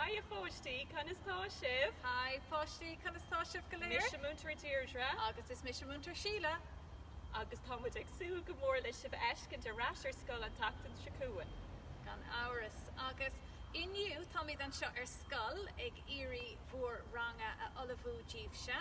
Hi a pháistí, conas tá sibh? Hi a pháistí, conas tá sibh go léir? Mise Múinteoir Deirdre. Agus is mise Múinteoir Síle. Agus tá muid ag súil go mór le sibh a fheiscint ar ais ar scoil an tseachtain seo chugainn. Gan amhras. Agus inniu táimid anseo ar scoil ag iarraidh bhur ranganna a ullmhú daoibhse.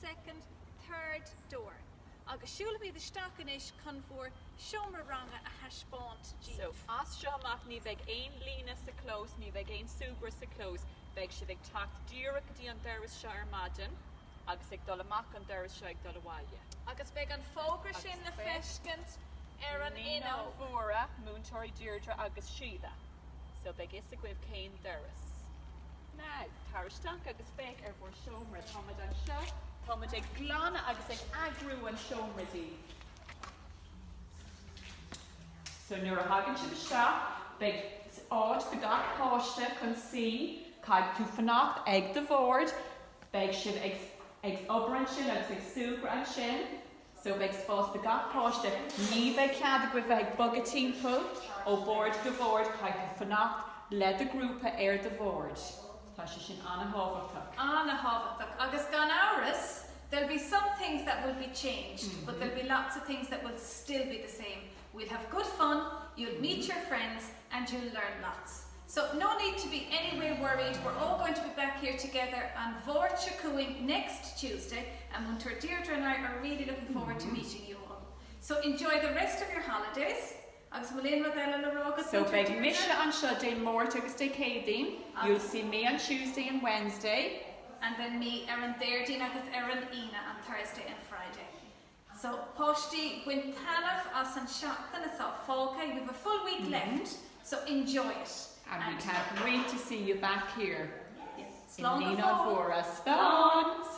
second, third door. Agus siúlfaimid isteach anois chun bhur seomra ranga a thaispeáint díbh. So, as seo amach ní bheidh aon líne sa chlós, ní bheidh aon súgradh sa chlós. Beidh sibh ag teacht díreach go dtí an doras seo ar maidin agus ag dul amach an doras seo ag dul abhaile. Agus beidh an fógra sin le feiscint ar an fhuinneog. Naíonáin Mhóra, múinteoirí Deirdre agus Síle. So beidh a fhios agaibh cén doras. Now, tar isteach agus féach ar bhur seomra. Tá muid anseo, tá muid ag glanadh agus ag eagrú an seomra daoibh. So nuair a thagann sibh isteach, beidh áit do gach páiste chun suí, caithfidh tú fanacht ag do bhord, beidh sibh ag obair ansin agus ag súgradh ansin. so beidh spás do gach páiste, ní bheidh cead agaibh bheith ag bogadh timpeall ó bhord go bord, caithfidh tú fanacht le do ghrúpa ar do bhord, tá sé sin an-thábhachtach. an-thábhachtach agus gan amhras there'll be some things that will be changed but there'll be lots of things that will still be the same We'll have good fun, you'll meet your friends and you'll learn lots. So, no need to be any way worried, we're all going to be back here together an Mháirt seo chugainn, next Tuesday, and Múinteoir Deirdre and I are really looking forward to meeting you all. So, enjoy the rest of your holidays agus bhfuil aon rud eile le rá agat? So, beidh mise anseo Dé Máirt agus Dé Céadaoin, you'll see me on Tuesday and Wednesday, and then me ar an Déardaoin agus ar an Aoine, an Thursday and Friday. So, páistí, bain taitneamh as an seachtain atá fágtha, you have a full week left, so enjoy it. And we can't wait to see you back here in Naíonáin Mhóra Staire!